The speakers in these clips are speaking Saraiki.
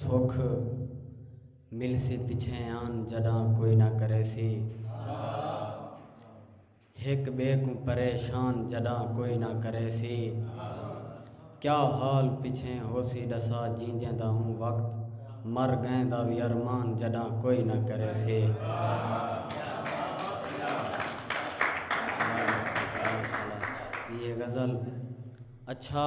سکھ ملسی پچھیں آن جڈاں کوئی نہ کریسی ہک بے کوں پریشان جڈاں کوئی نہ کریسی کیا حال پچھیں ہوسی ڈسا جیندیں دا ہوں وقت مر گئیں دا وی ارمان جڈاں کوئی نہ کریسی یہ غزل اچھا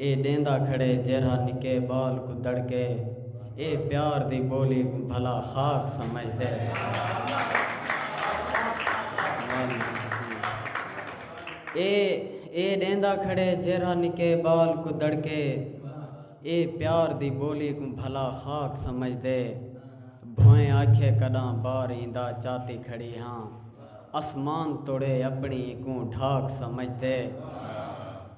اے ݙیندا کھڑے جیرھا نکے ٻال کوں دڑکے اے پیار دی ٻولی کوں بھلا خاک سمجھدے بھوئیں آکھے کݙاں بار ایندا چاتی کھڑی ہاں اسمان توڑے اپݨی ایکوں ڈھاک سمجھدے۔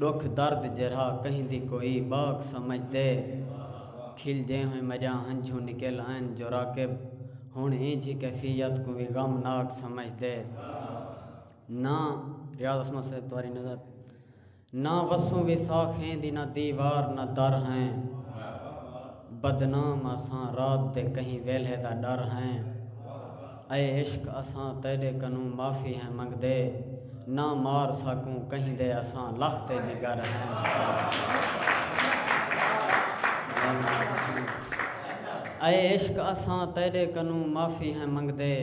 ڈکھ درد جیرھا کہیں دی کوئی باک سمجھ تے کھلدے ہوئیں مجاں ہنجھوں نکل آئن جو راکب ہن اینجھی کیفیت کوں وی غم ناک سمجھ دے نہ ریاض عصمت صاحب تواری نظر نہ وسوں وی ساخیں دی نہ دیوار نہ در ہیں۔ بدنام اساں رات دے کہیں ویلھے دا ݙر ہیں اے عشق اساں تیݙے کنوں معافی ہیں منگدے نہ مار ساکوں کہیں دے اساں لخ تے جگر ہیں اے عشق اساں تیݙے کنوں معافی ہیں منگدے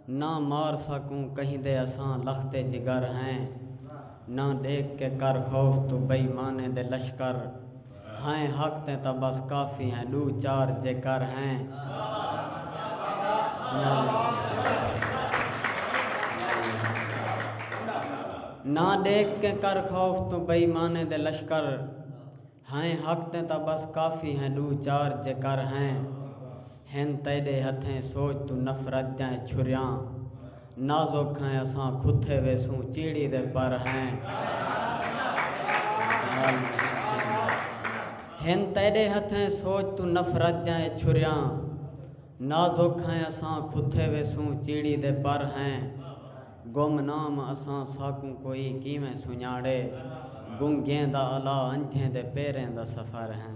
نہ مار ساکوں کہیندے اساں لخت جگر ہیں نہ ڈیکھ کے کر خوف توں بئی مانیں دے لشکر ہیں حق تیں تاں بس کافی ہیں ڈو چار جے کر ہیں۔ ہیں حق تیں تاں بس کافی ہیں ڈو چار جے کر ہیں ہن تیڈے ہتھیں سوچ توں نفرت جئیں چھریاں نازک ہیں اساں کھتھے ویسوں چیڑی دے پر ہیں ہن تیڈے ہتھیں سوچ توں نفرت جئیں چھریاں نازک ہیں اساں کھتے ویسوں چیڑی دے پر ہیں گم نام اساں ساکوں کوئی کیویں سنڄاڑے گنگیں دا الا انجھیں دے پیریں دا سفر ہیں۔